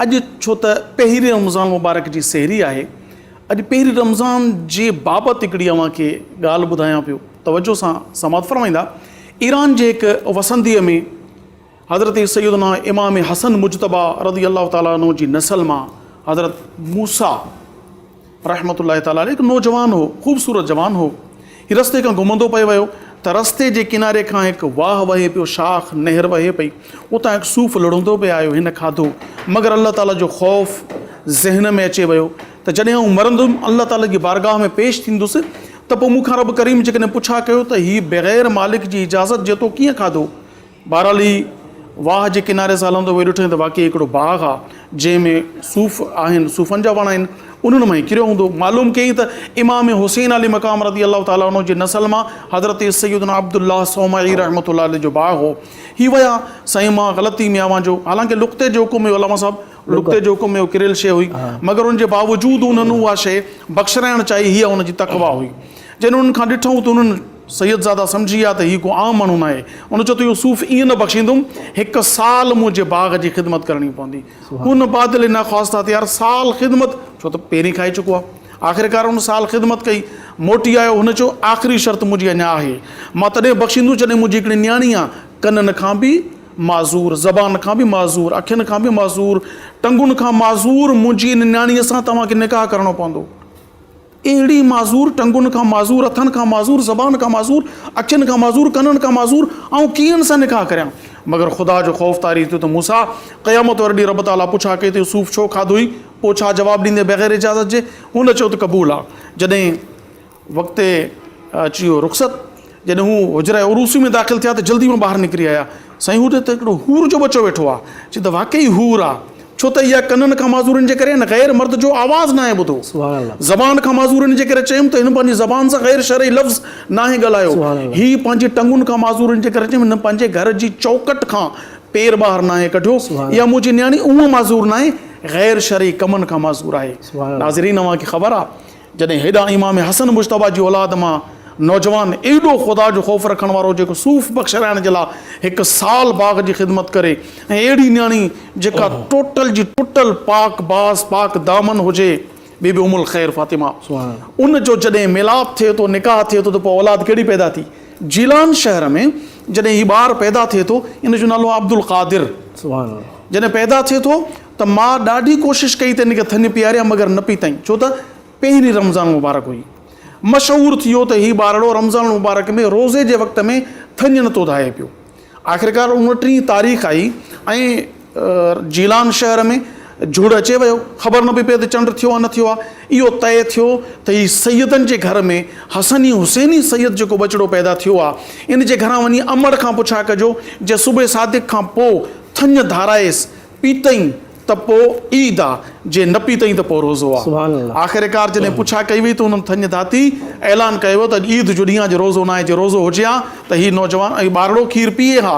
اڄ ڇو ته پهرين رمضان مبارڪ جي سحري آهي. اڄ پهرين رمضان جي بابت هڪڙي اوهان کي ڳالهه ٻڌايان پيو. توجه سان سماعت فرمائيندا. ايران جي هڪ وسنديء ۾ حضرت سيدنا امام حسن مجتبيٰ رضي الله تعالٰي عنه جي نسل مان حضرت موسيٰ، رحمة الله تعالٰي عليه هڪ نوجوان هو، خوبصورت جوان هو. هي رستي کان گهمندو پئي ويو ته رستي جي ڪناري کان هڪ واهه وهي پيو، شاخ نهر وهي پئي. اتان هڪ صوف لڙهندو پئي آيو، هن کاڌو. مگر الله تعالٰي جو خوف ذهن ۾ اچي ويو ته جڏهن آئون مرندم، الله تعالٰي جي بارگاهه ۾ پيش ٿيندس ته پوء مون کان رب ڪريم جيڪڏهن پڇا ڪيو ته هي بغير مالڪ جي اجازت جيتو ڪيئن کاڌو؟ بهرحال هي واهه جي ڪناري سان هلندو ويو ڏٺئين ته واقعي هڪڙو باغ آ جنهن ۾ صوف آهن صوفن جا وڻ آهن انهن مان هي ڪريو هوندو معلوم ڪيائين ته امام حسين علي مقام رضي الله تعالٰي عنه جي نسل مان حضرت سيدنا عبدالله صومعي رحمة الله عليه جو باغ هو هي ويا سائين مان غلطي ۾ اوهان جو حالانڪه لقطي جو حڪم هيو علامه صاحب لقطي جو حڪم هيو ڪريل شيء هئي مگر ان جي باوجود انهن اها شيء بخشرائڻ چاهي هيء ان جي تقويٰ هئي جڏهن انهن کان ڏٺئون ته انهن سيدزاده سمجهي ويا ته هي ڪو عام ماڻهو ناهي. ان چيو ته اهو صوف ائين نه بخشيندم، هڪ سال منهنجي باغ جي خدمت ڪرڻي پوندي. ان بادل نخواستهتيار سال خدمت، ڇو ته پهرين کائي چڪو آ. آخرڪار ان سال خدمت ڪئي. موٽي آيو. هن چيو، آخري شرط منهنجي اڃا آهي. مان تڏهن بخشيندس جڏهن منهنجي هڪڙي نياڻي آ، ڪنن کان به معذور، زبان کان به معذور، اکين کان به معذور، ٽنگن کان معذور منهنجي ان نياڻيء سان توهان کي نڪاح ڪرڻو پوندو. اهڙي معذور ٽنگن کان معذور هٿن کان معذور زبان کان معذور اکين کان معذور ڪنن کان معذور آئون ڪيئن سان نڪاح ڪريان مگر خدا جو خوف طاري ٿيو ته موسيٰ قيامت واري ڏينهن رب تعاليٰ پڇا ڪئي ته سوف ڇو کاڌوئي پوء ڇا جواب ڏيندين بغير اجازت جي هن چيو ته قبول آ جڏهن وقت اچي ويو رخصت جڏهن هو حجره عروسي ۾ داخل ٿيا ته جلدي مان ٻاهر نڪري آيا. سائين هو ته هڪڙو حور جو ٻچو ويٺو آ. چي ته واقعي حور آ. ڇو ته اها ڪنن کان معذورين جي ڪري هن غير مرد جو آواز ناهي ٻڌو. زبان کان معذورين جي ڪري چيم ته هن پنهنجي زبان سان غير شرعي لفظ ناهي ڳالهايو. هي پنهنجي ٽنگن کان معذورين جي ڪري چيم هن پنهنجي گهر جي چوکٽ کان پير ٻاهر ناهي ڪڍيو. اها منهنجي نياڻي اونهه معذور ناهي غير شرعي ڪمن کان معذور آهي. ناظرين اوهان کي خبر آ. جڏهن هيڏانهن امام حسن مجتبيٰ جي اولاد مان نوجوان ايڏو خدا جو خوف رکڻ وارو جيڪو صوف بخش رائڻ جي لاء هڪ سال باغ جي خدمت ڪري ۽ اهڙي نياڻي جيڪا ٽوٽل جي ٽوٽل پاڪ باز پاڪ دامن هجي بي بي ام الخير فاطمه ان جو جڏهن ميلاپ ٿئي ٿو نڪاح ٿئي ٿو ته پوء اولاد ڪهڙي پيدا ٿي جيلان شهر ۾ جڏهن هي ٻار پيدا ٿئي ٿو ان جو نالو عبدالقادر جڏهن پيدا ٿئي ٿو ته مان ڏاڍي ڪوشش ڪئي ته ان کي ٿڃ پياريان مگر نه پئي ٿڃ ڇو ته پهرين رمضان المبارڪ هئي. مشهور ٿي ويو ته هي ٻارڙو رمضان المبارڪ ۾ روزي جي وقت ۾ ٿڃ نٿو ڌاهي پيو. آخرڪار اڻٽيهين تاريخ آئي ۽ جيلان شهر ۾ جهڙ اچي ويو. خبر نه پئي پئي ته چنڊ ٿيو آ نه ٿيو آ. اهو طئي ٿيو ته هي سيدن جي گهر ۾ حسني حسيني سيد جيڪو ٻچڙو پيدا ٿيو آ ان جي گهران وڃي امڙ کان پڇا ڪجو جنهن صبح صادق کان پوء ٿڃ ڌارائيس پيتئين ته پوء عيد آ، جي نه پيتئين ته پوء روزو آ. آخرڪار جڏهن پڇا ڪئي وئي ته هنن ٿڃ ڌاتي اعلان ڪيو ويو ته اڄ عيد جو ڏينهن آ، اڄ روزو ناهي، جي روزو هجي ها ته هي نوجوان ۽ ٻارڙو کير پيئي ها